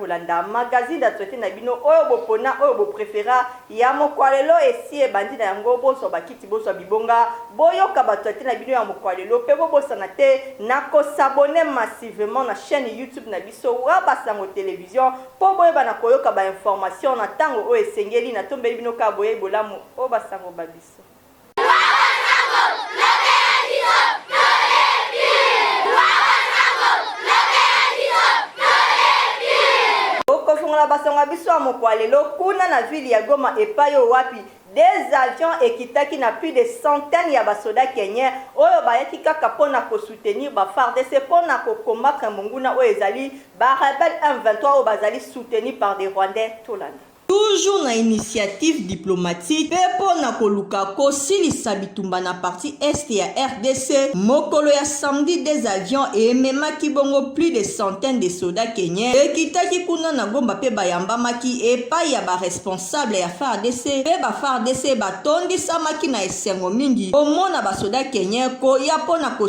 kolanda magazine d'actualité na bino oyo bopona oyo boprefera ya mokwa lelo esi ebandi na yango bozwa bakiti bozwa bibonga boyoka bactualité na bino ya mokwa lelo mpe bobosana te na kosabone massivement na chaîne youtube na biso wa basango television Mpo boyeba na koyoka ba informations na tango oyo esengeli, natombeli bino kaka boyei bolamu o ba sango ba biso. Bokofungola ba sango ya biso ya mokua ya lelo kuna na ville ya Goma epayi oyo wapi deux avions ekitaki na plus de centaines ya ba soda kenyens oyo bayaki kaka mpo na ko soutenir ba fardc mpo na ko combattre monguna oyo ezali Ba rebelles M23 oyo bazali soutenus par des Rwandais tolanda. Toujours na initiative diplomatique mpe mpo na koluka kosilisa bitumba na partie Est ya rdc, mokolo ya samedi deux avions ememaki bongo plus de centaines de soldats kenyens ekitaki kuna na Gomba mpe bayambamaki epayi ya ba responsables ya fardc mpe ba fardc batondisamaki na esengo mingi komona ba soldats kenyens koya mpo na ko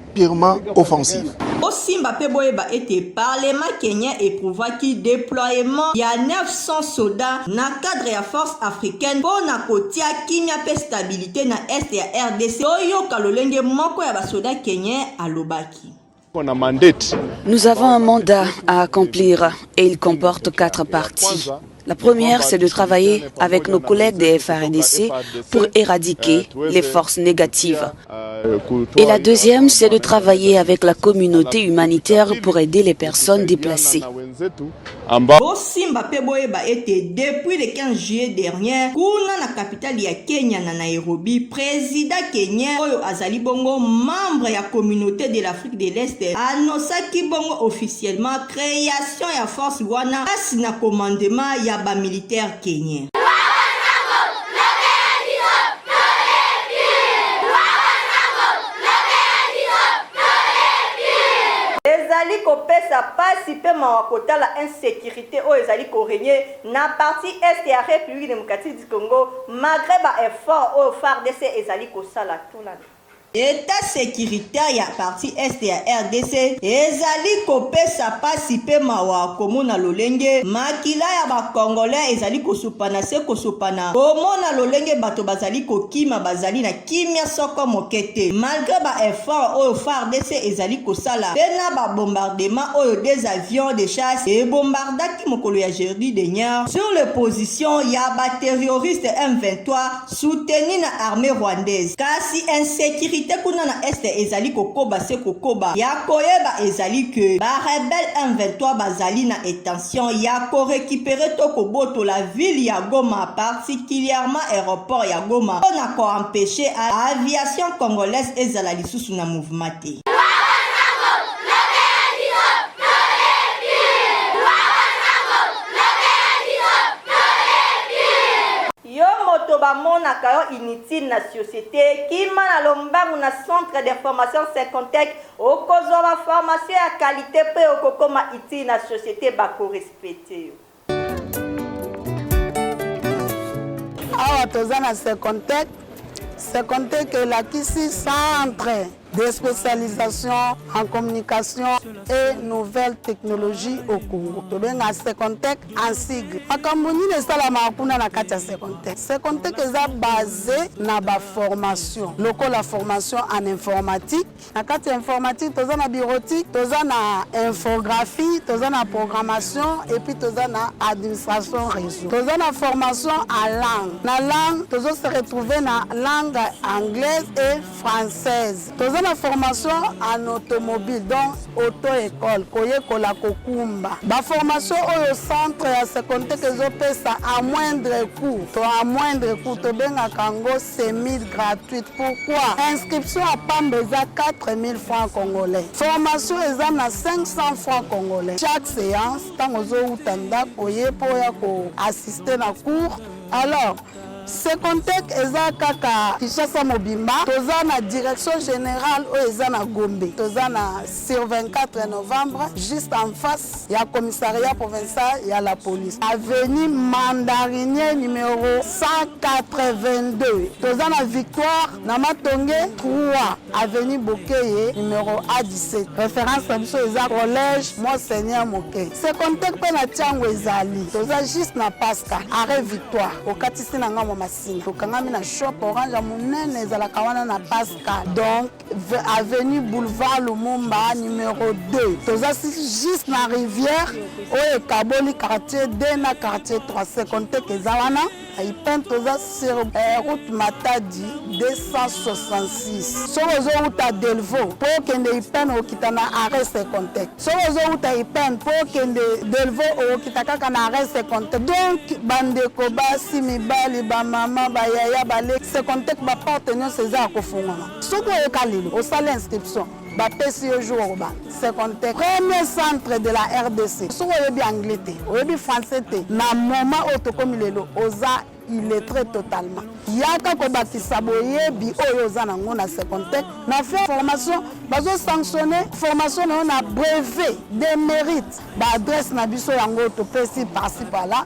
purement offensive. Bosimba mpe boyeba ete parlement kenyen eprouvaki deploiement ya 900 soda na cadre ya force africaine mpo na kotia kimia mpe stabilite na est ya rdc. Toyoka lolenge moko ya basoda kenyen alobaki. Nous avons un mandat à accomplir et il comporte quatre parties. La première, c'est de travailler avec nos collègues des FARDC pour éradiquer les forces négatives. Et la deuxième, c'est de travailler avec la communauté humanitaire pour aider les personnes déplacées. bosimba mpe boyeba ete depuis le 15 juillet dernier kuna na capitale ya kenya na nairobi president kenyen oyo azali bongo membre ya communauté de l'afrique de l'est annosaki bongo officiellement Creation ya force wana pasi na commandement ya ba militaire kenyen. ezali kopesa pasi mpe mawa kotala insecurite oyo ezali korenye na partie est ya République démocratique du Congo malgré ba effort oyo FARDC ezali kosala tuna Etat securitaire ya partie Est ya rdc ezali kopesa pasi mpe mawa komona lolenge makila ya ba Congolais ezali kosopana se kosopana, komona lolenge bato bazali kokima bazali na kimia soko moke te malgre ba efforts oyo fardc ezali kosala mpe na ba bombardements oyo deux avions de chasse ebombardaki mokolo ya jeudi dernier sur les positions ya ba terroristes M23. Soutenu na armee rwandaise. Kasi insecurite kuna na Est ezali kokoba se kokoba. Ya koyeba ezali que ba rebelles M23 bazali na etention ya ko recuperer to kobotola ville ya Goma particulièrement aeroport ya Goma mpo na ko empecher aviation congolaise ezala lisusu na mouvement te. Yo moto ba monaka yo inutile na societe kima na lombangu na centre d'information Sycontec okozua ba formation ya qualite pe okokoma utile na societe bako respecter yo. Awa toza na Sycontec, Sycontec elakisi centre. des spécialisations en communication et nouvelles technologies au Congo. tobenga Secontech en sigle makambo nini esalamaka kuna na kati ya Secontech Secontech eza base na baformation lokola formation en informatique na kati ya informatique toza na bureautique toza na infographie toza na programmation et puis toza na administration réseau toza na formation en langue na langue tozo se retrouver na langue anglaise et française toza na formation en automobile donc auto école koyekola kokumba baformation oyo centre ya secondaire ezopesa à moindre coût to à moindre coût tobengaka yango semi gratuite pourquoi inscription ya pamba eza 4000 francs congolais formation eza na 500 francs congolais chaque séance ntango ozowuta ndako ye mpo ya koassiste na cours alors Secontec eza kaka Kinshasa mobimba. Toza na direction generale oyo eza na Gombe. Toza na sur 24 novembre juste en face ya commissariat provincial ya la police. Avenue Mandarinier numero 182. Toza na victoire na matonge 3. Avenue Bokeye numero A17. Reference na biso eza collège Monseigneur Moke. Secondaire pe na Tiango ezali. Toza juste na Pasca, arrêt Victoire. Okatisi na ngambo Masina. Tokangami na shop orange ya monene ezalaka wana na Pasca. Donc avenue Boulevard Lumumba numero 2. Toza juste na rivière oyo ekaboli quartier 2 na quartier 3. Secondaire eza wana. Ipen toza sur eh, route Matadi 266. Soki ozowuta Delvaux mpo okende Ipen okita na arrêt Secontec. Soki ozowuta Ipen mpo okende Delvaux okita kaka na arrêt Secontec. Donc bandeko basi mibali bamama bayaya baleki Secontec baporte nyonso eza ya kofungwama. Soki oyoka lelo osala inscription bapesi yo jour okoba secondaire premier centre de la rdc soki oyebi anglais te oyebi français te na moment oyo tokomi lelo oza illettré totalement yaka kobakisa boyebi oyo oza nango na secondaire na fin formation bazosanctionne formation na yo na brevet de mérite baadresse na biso yango topesi parci pala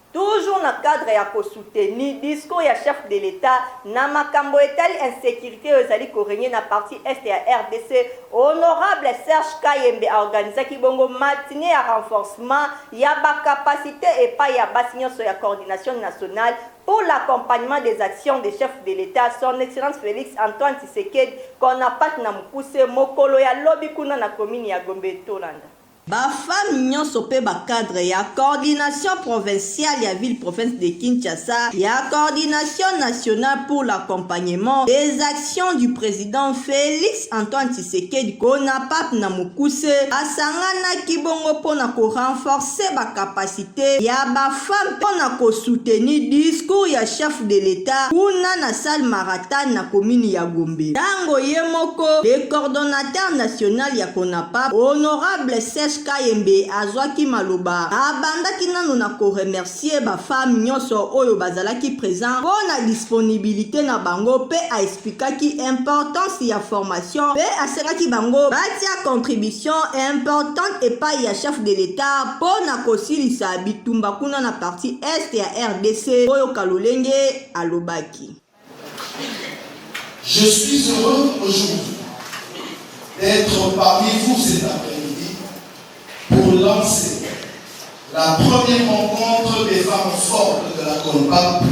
Toujours na cadre ya ko soutenir discours ya chef de l'Etat na makambo etali insecurite oyo ezali ko regner na partie Est ya rdc, honorable Serge Kayembe a organisaki bongo matinee ya renforcement ya ba capacites epayi ya basi nionso ya Coordination nationale pour l'accompagnement des actions de chef de l'Etat, son Excellence Felix Antoine Tshisekedi, Conapac na mokuse, mokolo ya lobi kuna na commune ya Gombe. Tolanda. Ba femmes nionso pe ba cadres ya Coordination provinciale ya ville province de Kinshasa ya Coordination nationale pour l'accompagnement des actions du president Felix Antoine Tshisekedi Conapac na mokuse basanganaki bongo mpo na ko renforcer ba capacites quantite ya ba femmes mpo na ko soutenir discours ya chef de l'Etat kuna na salle Maratane na commune ya Gombe tango ye moko le coordonnateur national ya Conapap honorable Serge Kayembe azwaki maloba abandaki nano na ko remercier ba femmes nionso oyo bazalaki present mpo na disponibilite na bango mpe a explikaki importance ya formation mpe asengaki bango batia contribution importante epayi ya chef de l'Etat mpo na kosilisa bitumba kuna na parti est ya rdc oyo kalolenge alobaki Je suis heureux aujourd'hui d'être parmi vous cet après-midi pour lancer la première rencontre des femmes fortes de la CONPAP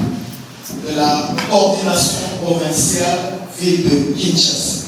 de la coordination provinciale ville de Kinshasa.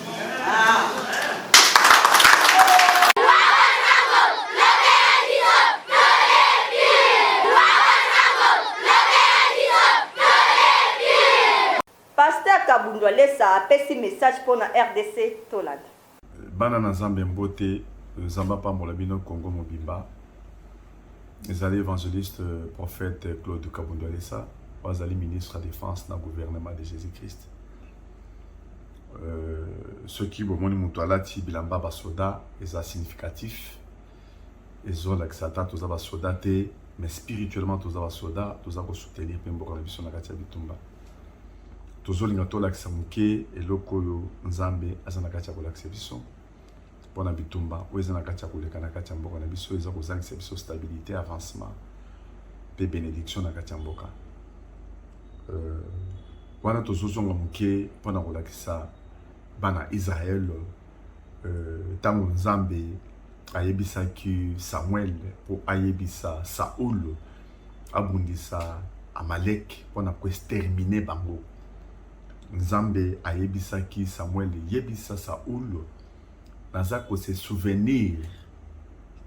Kabundwa Lesa apesi message mpo na RDC tolanda. Bana na Nzambe mbote, Nzambe apambola bino Kongo mobimba. Ezali évangéliste euh, prophète euh, Claude Kabundwa Lesa, oyo azali ministre ya défense na gouvernement de Jésus-Christ. Euh, soki bomoni moto alati bilamba basoda eza significatif ezolakisa ata toza basoda te mais spirituellement toza basoda toza kosoutenir mpe mboka na biso na kati ya bitumba tozolinga tolakisa moke eloko oyo nzambe aza na kati ya kolakisa biso mpo na bitumba oyo eza na kati ya koleka na kati ya mboka na biso eza kozangisa biso stabilité avancement mpe bénédiction na kati ya mboka euh, wana tozozonga moke mpo na kolakisa bana israel ntango euh, nzambe ayebisaki samuel mpo ayebisa saul abundisa amalek mpo na koestermine bango Nzambe ayebisaki Samuel, yebisa Saul, naza ko se souvenir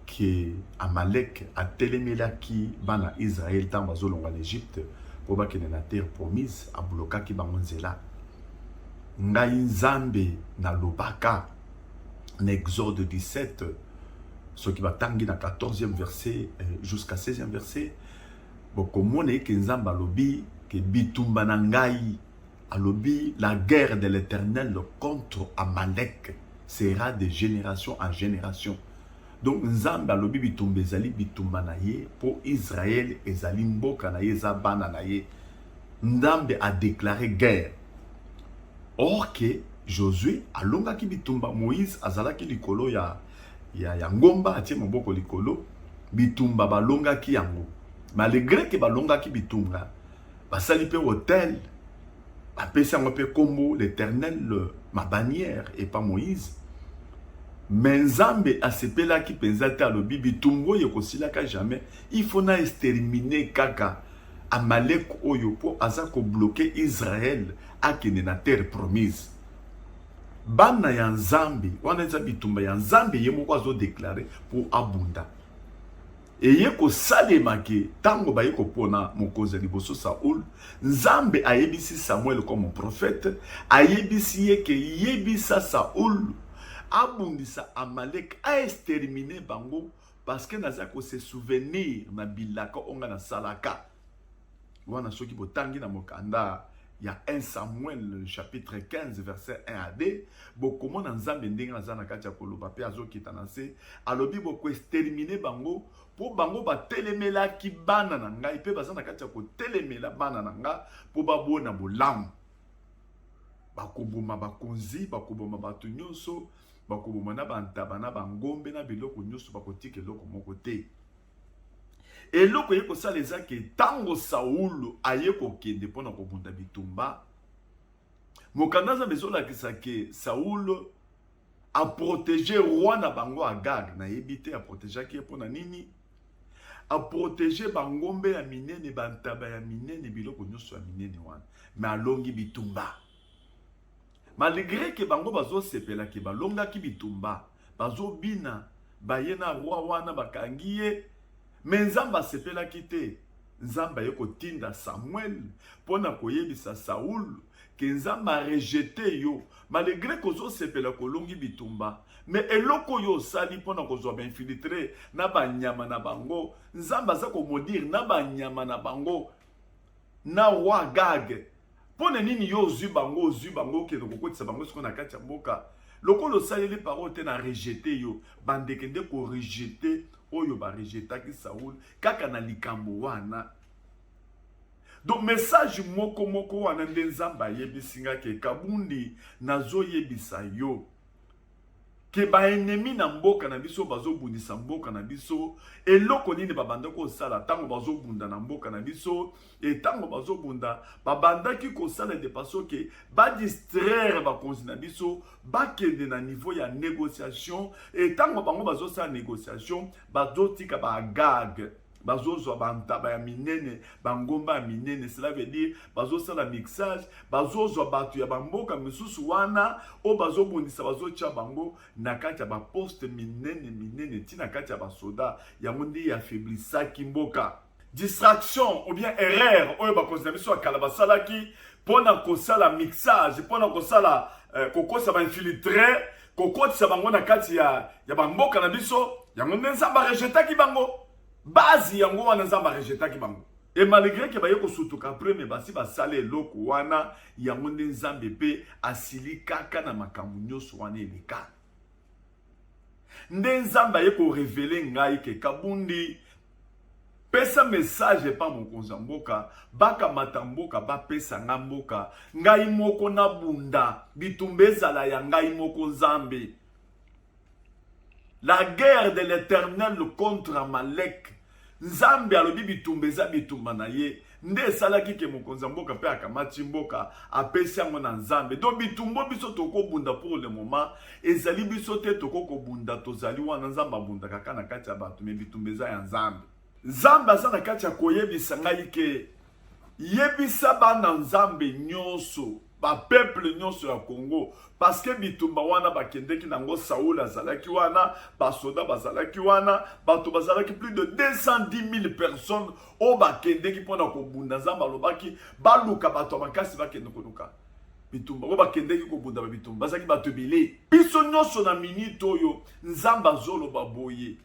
ke Amalek atelemelaki bana Israel ntango bazolongwa na Egypte mpo bakende na terre promise, ablokaki bango nzela. Ngai Nzambe nalobaka na Exode 17 soki batangi na 14e verset eh, jusqu'à 16e verset Bokomona eke Nzambe alobi ke bitumba na ngai, alobi la guerre de l'Eternel contre Amalek sera de generation en generation. Donc Nzambe alobi bitumba ezali bitumba na ye po Israël ezali mboka na ye eza bana na ye. Nzambe a declare guerre Or que Josue alongaki bitumba, Moïse azalaki likolo ya, ya, ya ngomba, atie moboko likolo, bitumba balongaki yango. Malgré que balongaki bitumba, basali mpe hotel, bapesi yango mpe kombo l'Éternel ma bannière epa Moïse. Me Nzambe asepelaki mpenza te, alobi bitumba oyo ekosilaka jamais, il faut na exterminer kaka Amalek oyo mpo aza kobloke Israel akende na terre promise. Bana ya Nzambe wana eza bitumba ya Nzambe ye moko azodeklare mpo abunda. Eye kosalema ke ntango baye kopona mokonzi ya liboso Saul, Nzambe ayebisi Samuel comme prophète, ayebisi ye ke yebisa Saul abundisa Amalek, a exterminer bango Parce que naza ko se souvenir na bilaka onga na salaka. Wana soki botangi na mokanda ya 1 Samuel chapitre 15 verset 1 à 2 bokomona Nzambe ndenge aza na kati ya koloba mpe azokita na se alobi bokoestermine bango mpo bango batelemelaki bana na ngai mpe baza na kati ya kotelemela bana na ngai mpo babona bolamu bakoboma bakonzi bakoboma bato nyonso Bakoboma na bantaba na bangombe na biloko nyonso, bakotika eloko moko te. Eloko ye kosala eza ke ntango Saulo aye kokende mpo na kobunda bitumba, mokanda Nzambe ezolakisa ke Saulo aprotege roi na bango Agag, nayebi te aprotegeaki ye mpo na nini, aprotege bangombe ya minene, bantaba ya minene, biloko nyonso ya minene wana, me alongi bitumba. Malgre que bango bazo sepela que balongaki bitumba, bazo bina baye na roi wana bakangi ye mais Nzambe asepelaki te. Nzambe aye kotinda Samuel mpo na koyebisa Saul ke Nzambe a rejete yo malgre kozosepela kolongi bitumba me eloko oyo osali mpo na kozwa bainfiltre na banyama na bango Nzambe aza komodire na banyama na bango na roi gag mpo na nini yo ozwi bango ozwi bango okende kokotisa bango siko na kati ya mboka lokola osaleli parole te na rejete yo bandeke nde korejete oyo barejetaki saul kaka na likambo wana donc message moko moko wana nde nzambe ayebisi nga ke kabundi nazoyebisa yo ke ba ennemi na mboka na biso bazobundisa mboka na biso eloko nini babandaki kosala ntango bazobunda na mboka na biso e ntango bazobunda babandaki kosala de façon ke badistraire bakonzi na biso bakende na niveau ya négociation e ntango bango bazosala négociation bazotika baagage bazozwa bantaba ya minene bangomba ya minene cela veut dire bazosala mixage bazozwa bato ya bamboka misusu wana oyo bazobundisa bazotya bango na kati ya baposte minene minene ti na kati ya basoda yango nde ya afeblisaki mboka distraction ou bien erreur oyo bakonzi na biso ya kala basalaki mpo na kosala mixage mpo na kosala euh, kokosa bainfiltre kokotisa bango na kati ya, ya bamboka na biso yango nde nzambe arejetaki bango bazi yango wana nzambe arejetaki bango e malgré ke baye kosutuka apres me basi basala eloko wana yango nde nzambe mpe asilikaka na makambo nyonso wana eleka nde nzambe aye korevele ngai ke kabundi pesa message epa mokonzi ya mboka bakamata mboka bapesa ngai mboka ngai moko nabunda bitumba ezala ya ngai moko nzambe la guerre de l'éternel contre amalek nzambe alobi bitumba eza bitumba na ye nde esalaki ke mokonzi ya mboka mpe akamati mboka apesi yango na nzambe donc bitumbo biso tokobunda pour le moment ezali biso te toko kobunda tozali wana nzambe abundaka kaka na kati ya bato me bitumba eza ya nzambe nzambe aza na kati ya koyebisa ngai ke yebisa bana nzambe nyonso ba peuple nyonso ya Congo parce que bitumba wana bakendeki nango Saul azalaki wana basoda bazalaki wana bato bazalaki plus de 210 000 personnes oyo bakendeki mpo na kobunda nzambe alobaki baluka bato ya makasi bakende koluka bitumba oyo bakendeki kobunda babitumba bazalaki bato ebele biso nyonso na minite oyo nzambe azoloba boye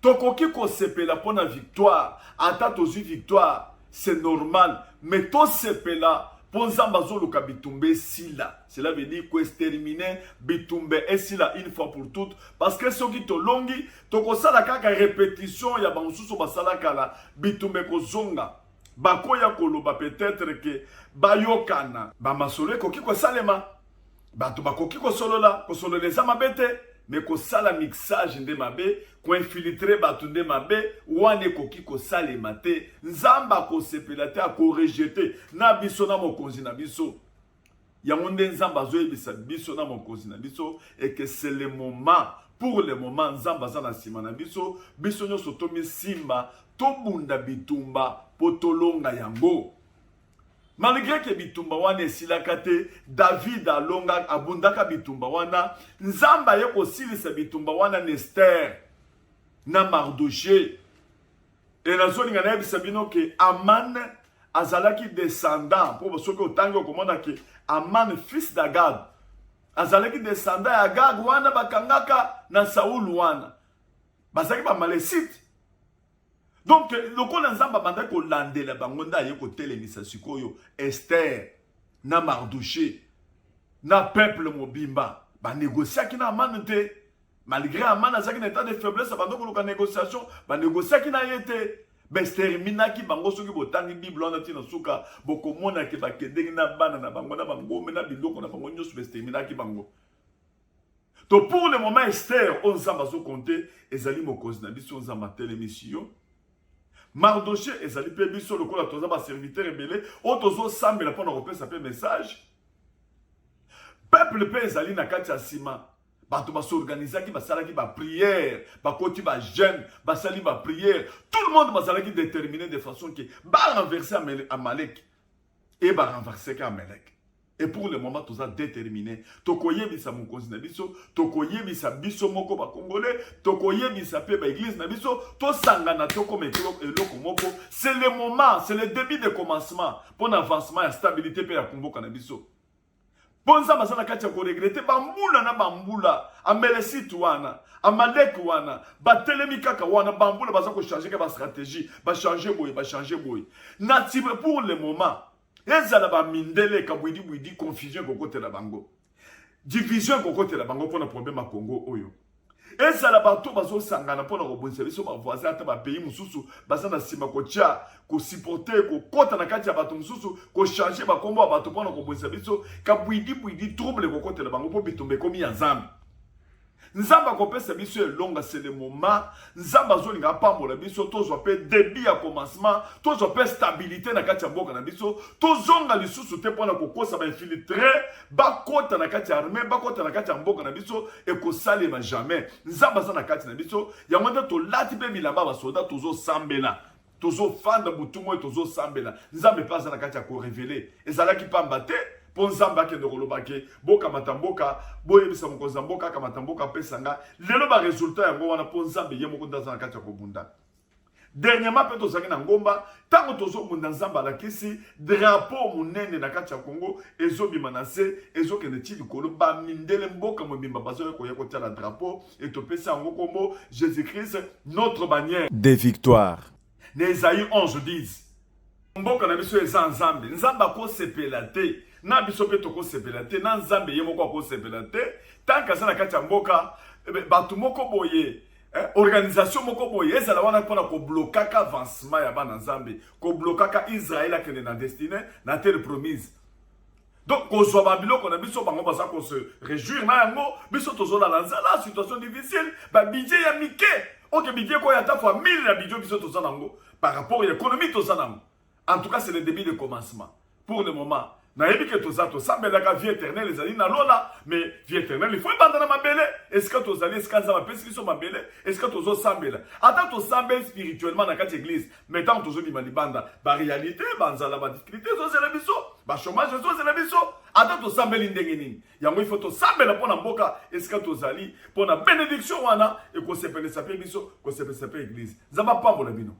Tokoki kosepela mpo na victoire, ata tozwi victoire c'est normal mais tosepela mpo Nzambe azoluka bitumba esila. Cela veut dire koestermine bitumba esila une fois pour toute parce que soki tolongi tokosala kaka repetition ya bamosusu basala kala, bitumba ekozonga bakoya koloba peut-être que bayokana. Bamasolo ekoki kosalema. bato bakoki kosolola kosolola eza mabe te me kosala mixage nde mabe koinfiltre bato nde mabe wana ekoki kosalema te nzambe akosepela te akorejete na biso na mokonzi na biso yango nde nzambe azoyebisa biso na mokonzi na biso eke se le moment pour le moment nzambe aza na nsima na biso biso nyonso tomisimba tobunda bitumba mpo tolonga yango Malgre ke bitumba wana esilaka te, David alonga, abundaka bitumba wana. Nzambe aye kosilisa bitumba wana na Esther na Mardoche. E nazolinga nayebisa bino ke Aman azalaki descendant, mpo soki otangi okomona ke Aman fils d'Agag azalaki descendant ya Agag wana bakangaka na Saul wana bazalaki bamalesite donc lokola nzambe abandaki kolandela bango nde aye kotelemisa sikoyo ester na mardouche na peuple mobimba banegociaki na amane te malgré amane azalaki na etat de faiblesse abanda koluka négociation banegociaki na ye te basterminaki bango soki botangi bible wana ntina suka bokomona ke bakendeki na bana na bango na bangombe na biloko na bango nyonso basterminaki bango to pour le moment ester oyo nzambe azokonte ezali mokonzi na biso nzambe atelemisi yo mardoche ezali mpe biso lokola toza baserviteur ebele oyo tozosambela mpo na kopesa mpe message peuple mpe ezali na kati ya nsima bato basorganizaki basalaki bapriere bakoti bajeune basali bapriere tout le monde bazalaki déterminé de façon ke barenverse amalek e barenverseke amalek Et pour le moment, toza déterminé. Tokoyebisa mokonzi na biso, tokoyebisa biso moko ba congolais, tokoyebisa pe ba église na biso, tosangana tokoma eloko moko. C'est le moment, c'est le début de commencement pour l'avancement ya stabilité pe ya kumboka na biso. Mpo nzambe aza na kati ya koregrete bambula na bambula amelesite wana amaleke wana batelemi kaka wana bambula baza kochange ka bastratégie bachange boye bachange boye na tibre pour le moment ezala ba mindele kabwidi bwidi confusion ekokotela bango division ekokotela bango mpona problème ya congo oyo ezala bato bazosangana mpona kobundisa biso bavoisin ata bapays mosusu baza na nsima kotya kosiporte kokɔta na kati ya bato mosusu kochange bakombo ya bato mpona kobundisa biso kabwidi bwidi trouble ekokotela bango mpo bitumba ekomi ya nzambe nzambe akopesa biso elonga c'est le moment nzambe azolinga apambola biso tozwa mpe debut ya commencement tozwa mpe stabilité na kati ya mboka na biso tozonga lisusu te mpo na kokosa bainfiltre bakota na kati ya armée bakota na kati ya mboka na biso ekosalema jamais nzambe aza na kati na biso yango nde tolati mpe bilamba basoda tozosambela tozo fanda butu moi tozo sambela nzambe mpe aza na kati ya korevele ezalaki mpamba te mpo nzambe akende koloba ke bokamata mboka boyebisa mokonzi ya mboka akamata mboka apesa nga lelo baresultat yango wana mpo nzambe ye moko nde aza na kati ya kobunda dernièrement mpe tozalaki na ngomba ntango tozobunda nzambe alakisi drapo monene na kati ya kongo ezobima na se ezokende ti likolo bamindele mboka mobimba bazoya koya kotyala drapo Et topesi yango kombo Jésus-Christ notre bannière de victoire. Na Esaïe 11 10. Mboka na biso eza Nzambe. Nzambe akosepela te. Na biso mpe tokosepela te. Na Nzambe ye moko akosepela te. Tant aza na kati ya mboka, eh bato moko boye eh, organisation moko boye ezala wana mpona koblokaka avancement ya bana nzambe koblokaka israel akende na destine na terre promise donc kozwa babiloko na biso bango baza kose réjouir na yango biso tozolala nzala situation difficile babidje ya mike oke bidje ekoya ata fois 1000 na bidjo biso toza nango par rapport ya économie toza nango en tout cas c'est le début de commencement pour le moment nayebi ke toza tosambelaka vie éternel ezali na lola mais vie éternel il faut ebanda na mabele esika tozali esika nzambe apesi biso mabele esika tozosambela ata tosambeli spirituellement na kati ya église mais ntango tozobima libanda barealité banzala badifficulté ezozela biso bachomage ezozela biso ata tosambeli ndenge nini yango ifo tosambela mpo na mboka esika tozali mpo na benediction wana ekosepelisa mpe biso kosepelisa mpe eglize nzambe apambola bino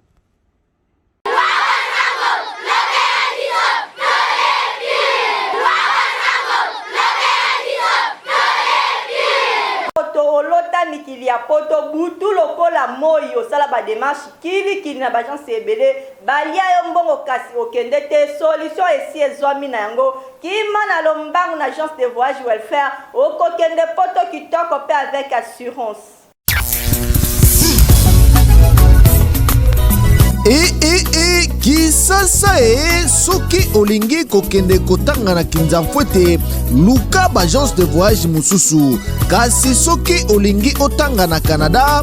mikili ya poto butu lokola moi osala bademarche Kili kili na b'agence ebele balia yo mbongo kasi okende te solution esi ezwami na yango kima na lombangu na agence de voyage welfare okokende poto kitoko pe avec assurance. ee ee ee kisasa ee soki olingi kokende kotanga na kinzamfwete luka baagence de voyage mosusu kasi soki olingi otanga na canada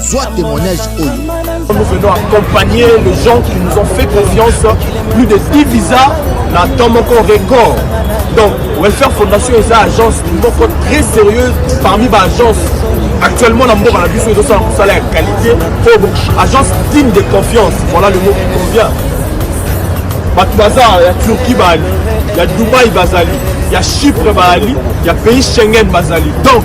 zwa témoignage oyo nous venons accompagner les gens qui nous ont fait confiance plus de 10 visas na temps moko record donc welfare fondation eza agence moko très sérieuse parmi baagence actuellement na mboka na biso ezosala mosala ya qualité oyo agence digne de confiance voilà le mot qui convient bato baza ya turquie baali ya dubai bazali ya chypre baali ya pays schengen bazali donc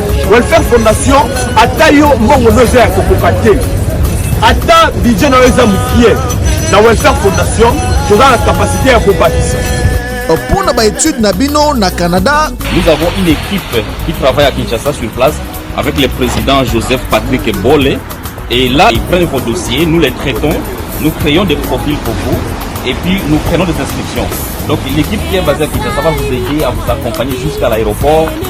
Welfare Fondation ata yo mbongo no eza ya kokoka te ata budget na yo eza mokie na Welfare Fondation toza na kapasite ya kobakisa mpo na baetude na bino na Canada. Nous avons une équipe qui travaille à Kinshasa sur place avec le président Joseph Patrick Bolle et là ils prennent vos dossiers, nous les traitons, nous créons des profils pour vous et puis nous prenons des inscriptions. Donc l'équipe qui est basée à Kinshasa va vous aider à vous accompagner jusqu'à l'aéroport.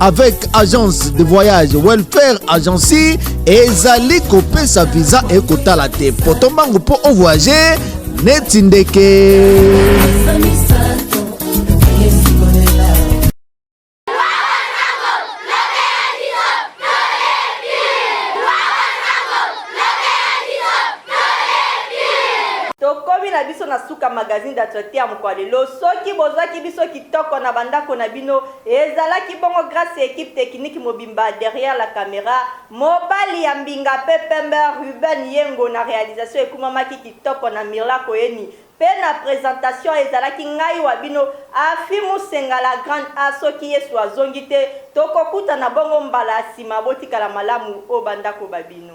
avec agence de voyage welfare agency ezali kopesa visa ekotala te poto mbangu mpo ovoyage neti ndeke magazine d'actualité ya mokolo lelo soki bozwaki biso kitoko na bandako na bino Ezalaki bongo grace ya equipe technique mobimba derrière la camera, mobali ya mbinga pe pembe Ruben Yengo na realisation ekumamaki kitoko na Mirla Koeni pe na presentation ezalaki ngai wa bino Aphy Musenga la grande A soki Yesu azongi te tokokutana bongo mbala ya sima botikala malamu o ba ndako ba bino.